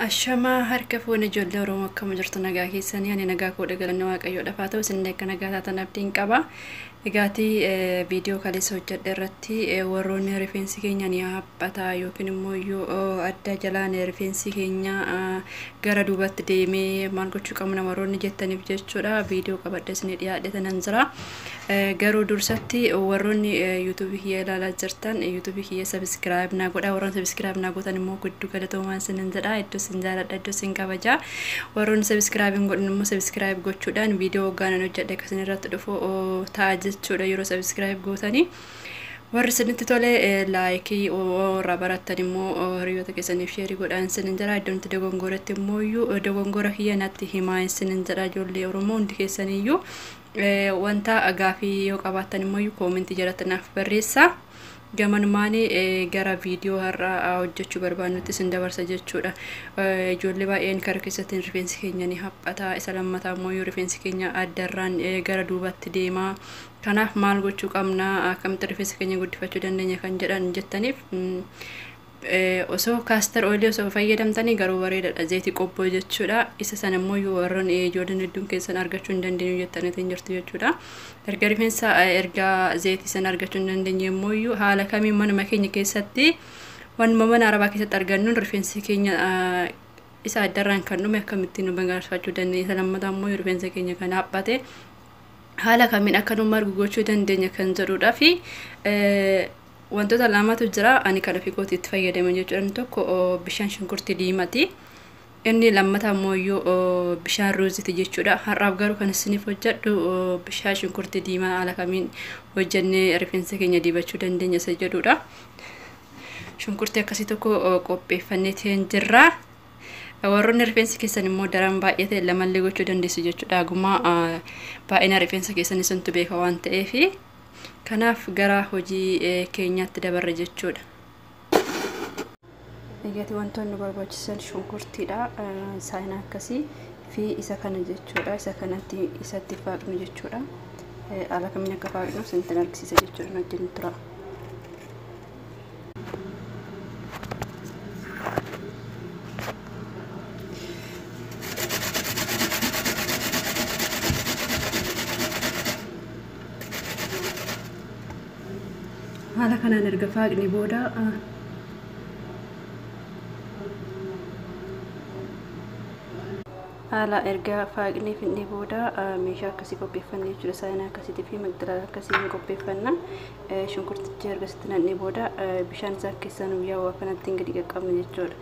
Ashamaa harka fuune ijoollee Oromoo akkam jirtu nagaa keessanii ani nagaa koo dhagalanne waaqayyoo dhafaa ta'u isin akka nagaa taatan abdiin qaba. Egaatii viidiyoo kaleessa hojjedhe irratti warroonni rifeensi keenya ni haphataa yookiin immoo iyyuu adda jalaan rifeensi keenya gara duubatti deemee maal gochuu qabna warroonni jettaniif jechuudha viidiyoo qabadhe isin dhiyaadhe tanan jira. Garuu dursatti warroonni YouTube kiyya ilaalaa jirtan YouTube kiyya subscribe naa godha warroonni subscribe naa gootan immoo guddu galatoomaa isinin jedha iddoo isin jaaladha iddoo isin kabaja warroonni subscribe hin godhin immoo subscribe gochuudhaan viidiyoo hoggaanaan hojjedhe akka isin irratti dhufu ta'a jechuudha yeroo subscribe gootanii warri isinitti tole laayikii warra barattan immoo hiriyoota keessaniif sheerii godhaan isinin jedha iddoon itti dogongoretti immoo iyyuu dogongora kiyya natti himaa isinin jedha ijoollee oromoo hundi keessaniyyuu Wanta gaafii yoo qabaattan immoo koomentii jalatti naaf barreessaa. Gamanumaan gara viidiyoo har'aa hojjechuu barbaannutti isin dabarsa jechuudha. Ijoollee baay'een kara keessatti rifeensi keenya ni haphata. Isa lammataa immoo yoo rifeensi keenya addarraan gara duubatti deema. Kanaaf maal gochuu qabna? Akkamitti rifeensa keenya guddifachuu dandeenya kan jedhan jettaniif Osoo caster oil osoo fayyadamtanii garuu bareedadha zeeti qobboo jechuudha isa sana immoo warran ijoolleen hedduun keessan argachuu hin dandeenyu jettanii hin jirtu jechuudha erga rifeensa erga zeeti sana argachuu hin dandeenye immoo haala kamiin manuma keenya keessatti wanuma mana arabaa keessatti argannuun rifeensi keenya isa addarraan kan dhume akkamittiin nu gargaarfachuu dandeenya isa lammataa immoo rifeensa keenya kan haaphate haala kamiin akka nu margu gochuu dandeenya kan jedhuudhaa fi Wantoota lamatu jira ani kan ofii kootii itti fayyadame jechuudhaan tokko bishaan shunkurtii diimati. Inni lammata ammoo iyyuu bishaan ruuziti jechuudha. Har'aaf garuu kan isiniif hojjedhu bishaan shunkurtii diimaa haala kamiin hojjennee rifeensa keenya dibachuu dandeenya isa jedhudha. Shunkurtii akkasii tokko qopheeffannee ta'een jirra. Warroonni rifeensi keessan immoo daran baay'ee ta'e lamallee gochuu dandeessu jechuudha. Haguma baay'ina rifeensa keessanii santu beeka waan ta'eefi. Kanaaf gara hojii keenyaatti dabarra jechuudha. Eeggati wantoonni nu barbaachisan shunkurtiidha. Saayinaa akkasii fi isa kana jechuudha. Isa kanatti isatti faaqnu jechuudha. Haala kamiin akka faaqnu isinittin argisiisa jechuudha. Nu wajjin tura. haala kanaan erga faaqne booda haala erga faaqnee fidnee booda meeshaa akkasii qopheeffanne jechuudha saayinaa akkasiitii fi magdalaala akkasii ni qopheeffanna shunkurtichi erga sitti nannee booda bishaan isaa keessaa nu yaa'u akkanatti hin gadi qaqqabne jechuudha.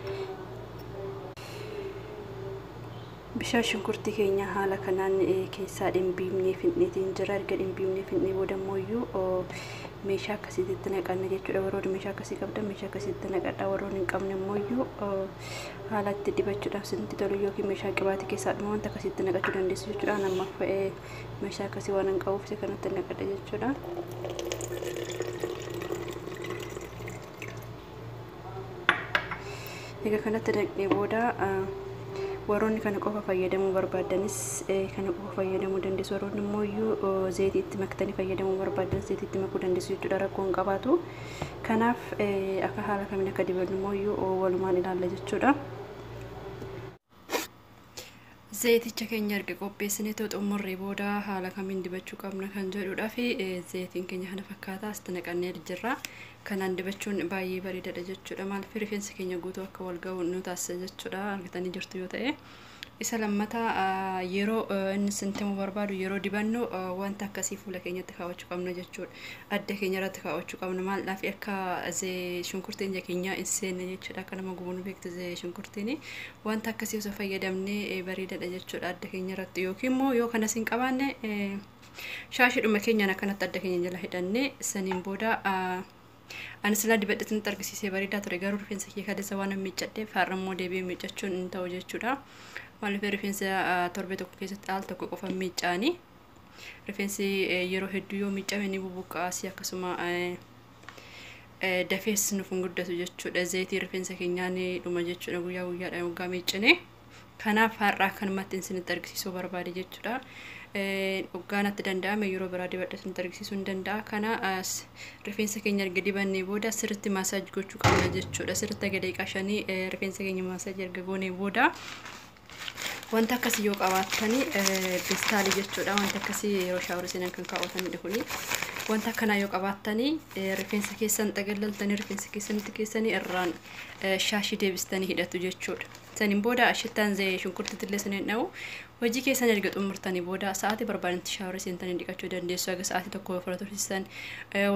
Bishaan shunkurtii keenya haala kanaan keessaa dhimbiibnee fixneetiin jira. Erga dhimbiibnee fixnee booda immoo iyyuu meeshaa akkasiitti itti naqanna jechuudha. Warroonni meeshaa akkasii qabdan meeshaa akkasii itti naqadha. Warroonni hin qabne immoo iyyuu haala itti dibachuudhaaf isinitti tolu yookiin meeshaa qibaatii keessaa dhuma wanta akkasii itti naqachuu dandeessu jechuudha. Ani amma meeshaa akkasii waan hin qabuuf isa kanatti naqadha jechuudha. egaa kanatti daqnee booda warroonni kana qofa fayyadamuu barbaaddanis kana qofa fayyadamuu dandeessu warroonni immoo iyyuu zeetii itti maktanii fayyadamuu barbaaddan zeetii itti makuu dandeessu jechuudha rakkoo hin qabaatu kanaaf akka haala kamiin akka dibannu immoo iyyuu walumaan ilaalla jechuudha. Zayiticha keenya erga qopheessinee too xumurree booda haala kamiin dibachuu qabna kan jedhudha fi zayitiin keenya kana fakkaataa asitti naqannee jirra. Kanaan dibachuun baay'ee bareedaadha jechuudha. Maaliif rifeensi keenya guutuu akka wal ga'u nu taasisa jechuudha argitanii jirtu yoo ta'e. Isa lammataa yeroo inni sintimu barbaadu yeroo dibannu wanta akkasii fuula keenyatti kaawwachuu qabna jechuudha. Adda keenya irratti kaawwachuu qabna maal fi akka shunkurtiin ija keenyaa hin seenne jechuudha akka nama gubuun beektu shunkurtiin Wanta akkasii osoo fayyadamnee bareedadha jechuudha adda keenya irratti yookiin immoo yoo kanas hin qabaanne shaashidhuma keenyaan akkanatti adda keenya jala hidhannee saniin booda ani silaa dibadhetti nutti argisiisee bareedaa ture garuu rifeensa kee kaleessa waan miiccadheef har'a immoo deebi'ee miiccachuun hin ta'u jechuudha. Maaliif rifeensa torbee tokko keessatti al tokko qofa miiccaanii rifeensi yeroo hedduu yoo miiccame ni bubuqqaasii akkasuma Eh, dafees nuuf hin guddatu jechuudha zayitii rifeensa keenyaa ni dhuma jechuudha guyyaa guyyaadhaan waggaa miiccine kanaaf har'aa kanumatti isinitti argisiisuu barbaade jechuudha Eh, waggaa natti danda'ame yeroo biraa dibadhe isinitti argisiisuu hin danda'a kana as, rifeensa keenya erga dibannee booda sirritti maasaaj gochuu qabna jechuudha sirritti aga daqiiqaa shanii eh, rifeensa keenya maasaaj erga goonee booda Wanta akkasii yoo qabaattani pistaalii jechuudha. Wanta akkasii yeroo shaawara seenan kan kaawwatanidha kuni. Wanta akkanaa yoo qabaattani rifeensa keessan xagallaltanii rifeensa keessanitti keessanii irraan shaashii deebistanii hidhatu jechuudha. Saniin booda shittaan shunkurtiitillee saniin dha'u hojii keessan erga xumurtanii booda sa'aatii barbaadanitti shaawara seentanii dhiqachuu dandeessu. Haga sa'aatii tokko ofirra tursiisan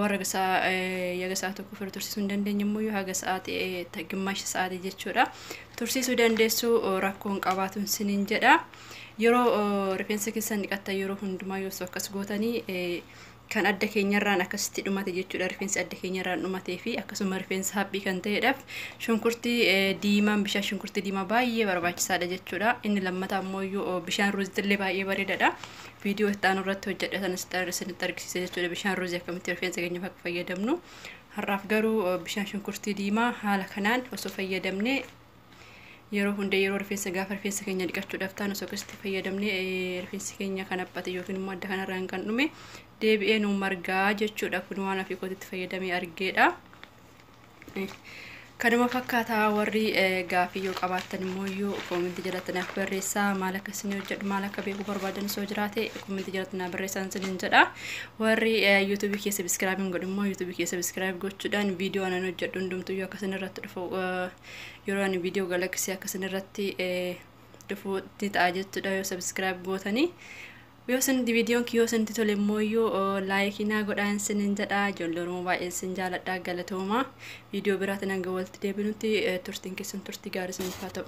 warra haga sa'aatii tokko ofirra tursiisuu hin dandeenye immoo haga sa'aatii gimmaasha sa'aatii jechuudha. tursiisuu dandeessu rakkoo hin qabaatu isiniin jedha. Yeroo rifeensa keessan dhiqattan yeroo hundumaa yoo akkas gootanii kan adda keenyarraan akkasitti dhumate jechuudha. Rifeensi adda keenyarraan dhumatee fi akkasuma rifeensa haphii kan ta'edhaaf shunkurtii diimaan bishaan shunkurtii diimaa baay'ee barbaachisaadha jechuudha. Inni lammataa immoo iyyuu bishaan ruuzitillee baay'ee bareedaadha. Viidiyoo itti aanu irratti hojjedha sana isinitti argisiisa jechuudha. Bishaan ruuzii akkamitti rifeensa keenyaaf akka fayyadamnu Har'aaf garuu bishaan shunkurtii diimaa haala kanaan osoo fayyadamne yeroo hunda yeroo rifeensa gaafa rifeensa keenya dhiqachuudhaaf taanu osoo akkasitti fayyadamne rifeensi keenya kan haphate yookiin immoo adda kanarraan kan dhume deebi'ee nu margaa jechuudha kun waan ofii kootitti fayyadamee argeedha. Kanuma fakkaata warri gaafii yoo qabaattan immoo iyyuu koomentii jalatti naaf barreessaa maal akka isin hojjedhu maal akka beekuu barbaadan soo jiraate koomentii jalatti naaf barreessaa isinin jedha warri yuutuubii kee sabiskiraayib hin godhu immoo yuutuubii kee sabiskiraayib gochuudhaan viidiyoo anan hojjedhu hundumtuu yoo akkasin irratti dhufu yeroo ani viidiyoo galaksii akkasin irratti dhufu ni ta'a jechuudha yoo sabiskiraayib gootanii Yoo isinitti videon kiyyoo isinitti tole immooyyuu like naa godhaa isinin jedha ijoollee oromoo baay'een isin jaaladha galatooma video biraatiin hanga walitti deebinutti turtiin keessan turtii gaarii isiniif haa ta'u.